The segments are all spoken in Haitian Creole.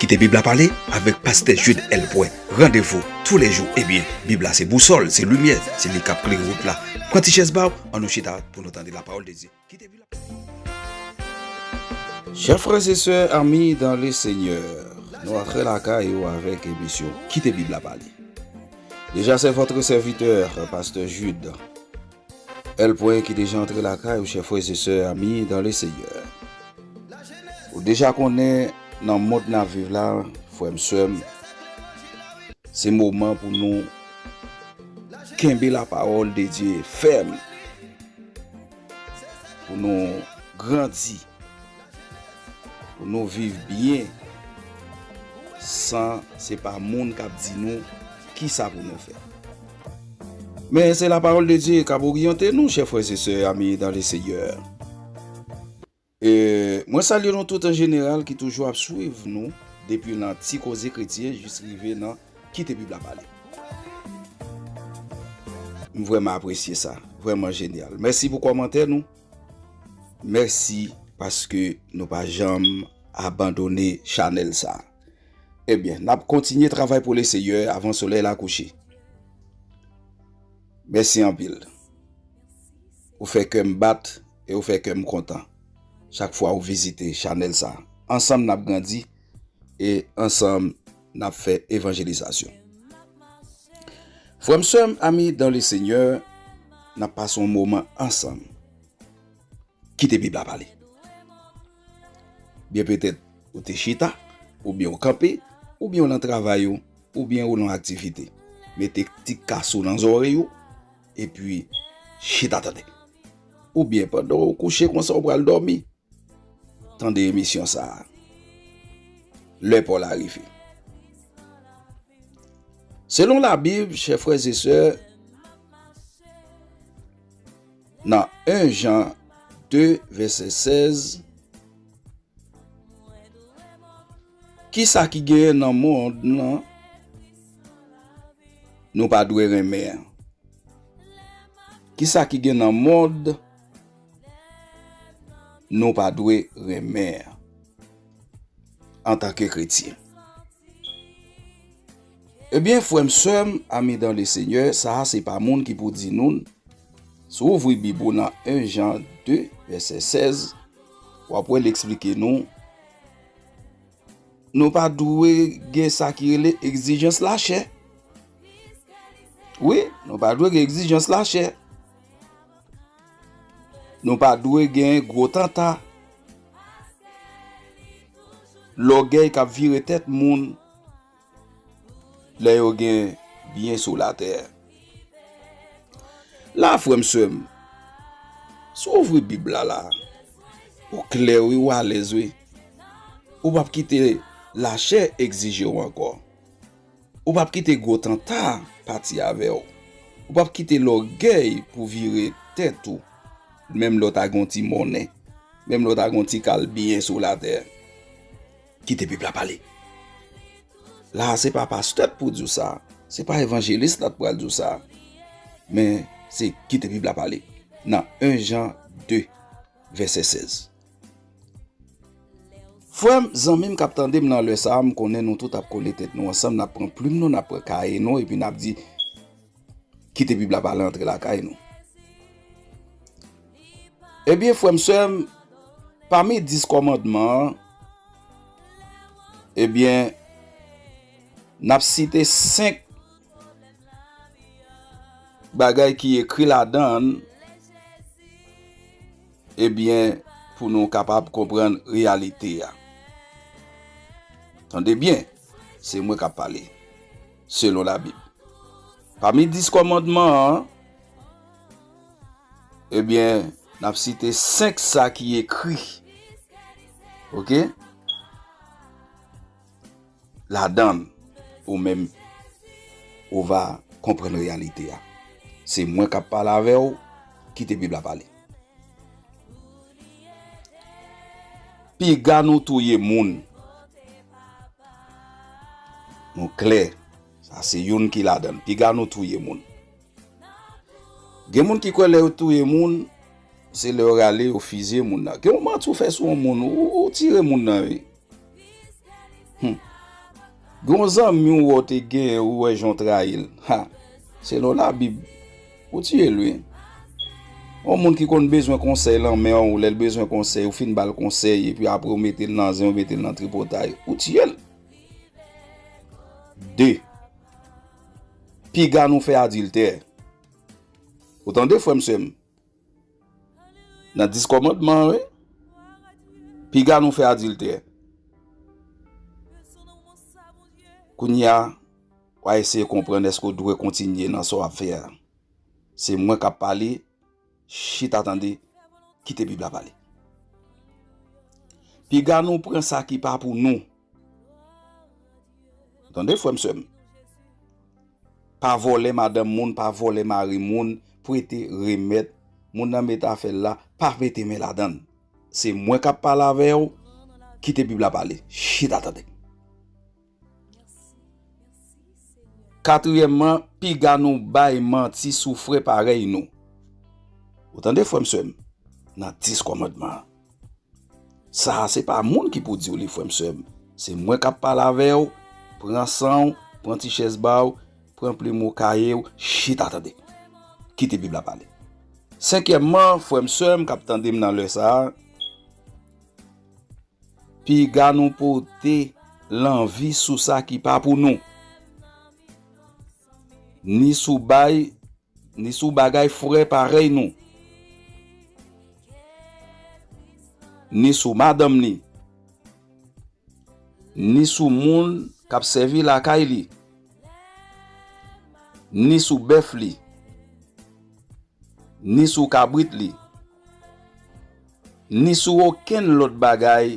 Kite bib la pale avèk pastè Jude L. Poin. Randevou tou lè jou ebyen bib la se bousòl, se limyè, se li kap klere wout la. Pran ti chèz baw an nou chita pou nou tande la pawòl de Dye. Kite bib la. Chè frè se sè ami dan le senyè nou antre lakay ou avèk emisyon kite bib la pale. Deja se vòtre sèvitè pastè Jude. L pwen ki deja antre lakay ou chè frèz e sè ami dan le senyè ou deja konnen nan mond nap viv la frèm sèm se moman pou nou kenbe la pawòl de Dye fèm pou nou grandi pou nou viv byen san se pa moun kap di nou kisa pou nou fè. Men se la parole de Dieu kap oryante nou chè frè se sè ami dan le seyè mwen salye nou tout an jeneral ki toujou ap swiv nou depi nan ti koze kretyen jis rive nan kite bib la pale m vrèman apresye sa vrèman jenyal mèsi pou kòmantè nou mèsi paske nou pa janm abandone chanèl sa. Ebyen, n ap kontinye travay pou Leseyè avan solèy la kouche. Mèsi anpil. Ou fè kè m bat e ou fè kè m kontan chak fwa ou vizite chanèl sa. Ansanm n ap grandi e ansanm n ap fè evanjelizasyon. Frè m, sè m, ami dan Lesenyè, n ap pase yon moman ansanm. Kite bib la pale. Byen petèt ou te chita, oubyen ou kanpe, oubyen ou lan travay ou, oubyen ou lan aktivite. Mete ti kas ou lan zòrèy ou, epi chita tande. Oubyen pandan ou kouche konsa ou pral dòmi, tande emisyon sa a. Lè pa w la rive. Selon la bib, chè frè e sè, Nan 1 Jan 2 vèsè 16, Ki sa ki genyen nan mond lan nou pa dwe renmen an? Ki sa ki gen nan mond nou pa dwe renmen an antanke kretyen? Ebyen frèm sèm ami dans le seigneur sa a se pa moun ki pou di nou n, si w ouvri bib ou nan 1 Jean 2 vèsè 16 wap wè l eksplike nou nou pa dwe gen sa ki rele egzijans lachè wi nou pa dwe gen egzijans lachè nou pa dwe gen gwo tanta lògèy kap vire tèt moun. Lè yo gen byen sou la tè. La frè m sè m. Si w ouvri bib la la. Ou klè wi ou alèz wi. Ou pap kite la chè egzije w ankò. Ou pap kite gwo tanta pati avè w. Ou pap kite lògèy pou vire tèt ou. Menm lè w ta gen yon ti monnen. Menm lè w ta gen yon ti kal byen sou la tè. Kite pep la pale. La a se pa pastè k pou di w sa, se pa evanjelis la k pral di w sa, men se kite bib la pale nan 1 Jan 2 vèsè 16. Frè m, zanmi m k ap tande m nan lè sa a, m konnen nou tout ap kole tèt nou ansanm, n ap pran plim nou, n ap pran kaye nou epi n ap di, Kite bib la pale antre lakay nou. Ebyen frè m sè m, pami 10 kòmandman an, ebyen n ap site 5 bagay ki ekri ladan l, ebyen pou nou kapab konprann reyalite a. Tande byen, se mwen k ap pale. selon labib. Pami 10 kòmandman an, ebyen n ap site 5 sa ki ekri ok ladan l ou menm ou va konprann reyalite a. Se mwen k ap pale avè w, kite bib la pale. Piga nou touye moun. Nou klè. Sa se youn ki ladan l. Piga nou touye moun. Gen moun ki kwè lè yo touye moun, se lè yo rale yo fizye moun nan. Gen yon manti ou fè sou yon moun, ou tire moun nan wi. Hum. Gen yon zanmi ou wè ou te gen, ou wè jan ou trayi l. Ha! Selon Labib, ou tiye l wi. Yon moun ki konn bezwen konsèy lan men ou, lè l bezwen konsèy, ou fin ba l konsèy, epi apre ou mete l nan zen, ou mete l nan tripotay, ou tiye l. De, piga nou fè adiltè. Ou tande frè m sè m? Nan 10 kòmandman wi. Piga nou fè adiltè. Kounya wa eseye konprann eske ou dwe kontinye nan sa wap fè a. Se mwen kap pale, chita tande, kite bib la pale. Piga nou pran sa ki pa pou nou. Tande frèm sèm. Pa vòlè madanm moun, pa vòlè mari moun, prete, remèt, moun nan met afèl la, pa mete men ladann. Se mwen kap pale avèw, kite bib la pale. Chita tande. Katryèmman, piga nou bay manti sou frè parèy nou. Ou tande frèm sèm, nan 10 kòmandman. Sa a se pa moun ki pou di w li frè m sè m. Se mwen k ap pale avè w, pran san w, pran ti chèz ba w, pran plim ou, kaye w, chita tande. Kite Bib la pale. Senkyèmman, frè m sè m k ap tande m nan lè sa a, piga nou pote lanvi sou sa ki pa pou nou, ni sou bay Ni sou bagay fre parèy nou. Ni sou madanm li. Ni sou moun k ap sèvi lakay li. Ni sou bèf li. Ni sou kabrit li. Ni sou okenn lòt bagay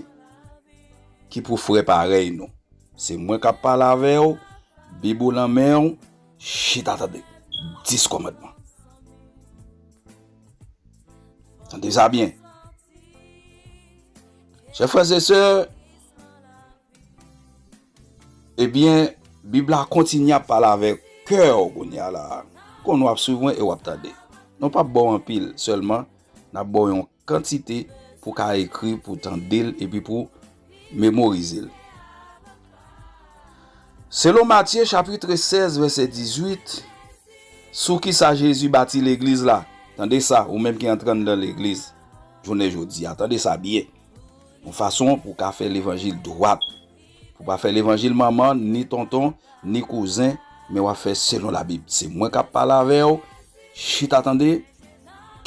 ki pou fre parèy nou. Se mwen k ap pale avè w, Bib ou nan men w. Chita tande 10 kòmandman. Tande sa byen. Chè frè zè sè, ebyen, bib la kontinye ap pale avè kè ou koun ya la. Kon nou ap swiv mwen e wap tande. Nou pap bò anpil, sèlman, nap bò yon. Kantite pou ka ekri, pou tande l epi pou memorize l. Selon Matye chapitre 16 vèsè 18, sou ki sa Jezi bati Legliz la? Tande sa, ou menm ki antre anndan Legliz jounen jodi a, tande sa byen, yon fason pou w ka fè levanjil dwat. Ou pa fè levanjil manman, ni tonton, ni kouzen, men wap fè selon la bib. Se mwen kap pale avèw, chita tande,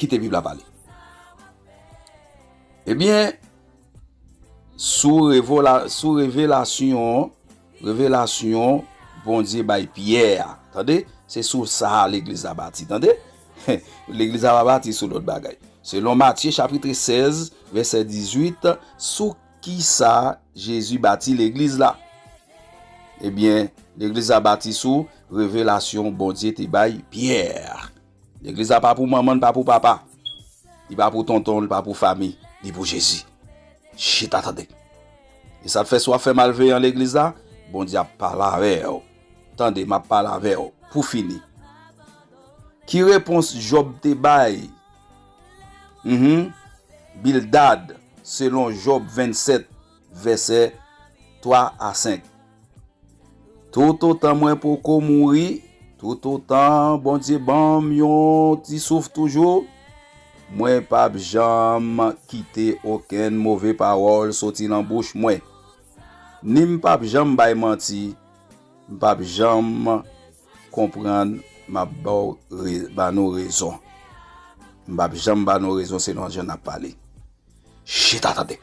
kite bib la pale. Ebyen, sou revelasyon, revelasyon Bondye bay Pyè a, tande, se sou sa a legliz la bati, tande, legliz la pa bati sou lòt bagay. Selon Matye chapitre 16, vèsè 18, sou Ki sa Jezi bati Legliz la? Ebyen, Legliz la bati sou revelasyon Bondye te bay Pyè. Legliz la pa pou manman, li pa pou papa, li pa pou tonton, li pa pou fami, li pou Jezi. Chita tande! E sa k fè si w ap fè malveyan Legliz la, Bondye ap pale avè w? Tande, m ap pale avè w. Pou fini, ki repons Jòb te bay? Uhmm Bildad selon Job 27 vèsè 3 a 5 Toutotan mwen poko mouri, toutotan Bondye banm yon ti souf toujou, mwen pap janm kite okenn move pawòl soti lan bouch mwen. Ni m pap janm bay manti, m pap janm konprann map baw ba nou rezon m pap janm ba nou rezon se nan jan nap pale chita tande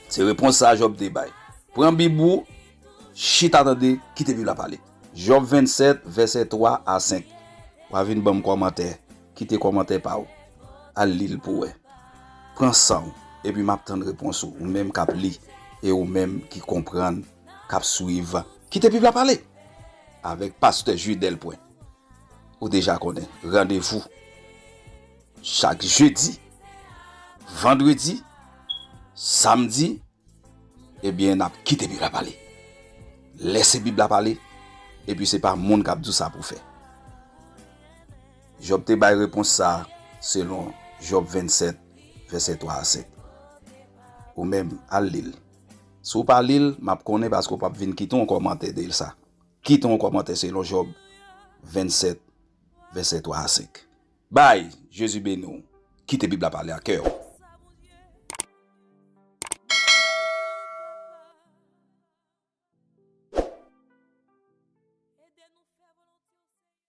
se repons sa Job te bay pran bib ou chita tande kite bib la pale Job 27 vèsè 3 a 5 wa vin banm kòmantè kite kòmantè pa ou al lil pou wè pran sanw epi map tann repons ou ou menm kap li e ou menm ki konprann. kap swiv. Kite bib la pale avèk pastè Jude Delprin ou deja konnen randevou chak jedi vandredi samdi ebyen nap kite bib la pale lè se bib la pale epi se pa moun kap di w sa pou w fè Job te bay repons sa selon Job 27 vèsè 3 a 7 ou menm al li l. Si w pa li l, m ap konnen paske w p ap vin kite yon kòmantè deyil sa. Kite yon kòmantè selon Jòb 27 vèsè 3 a 5. Bay! Jezi beni w. Kite Bib la pale ak kè w.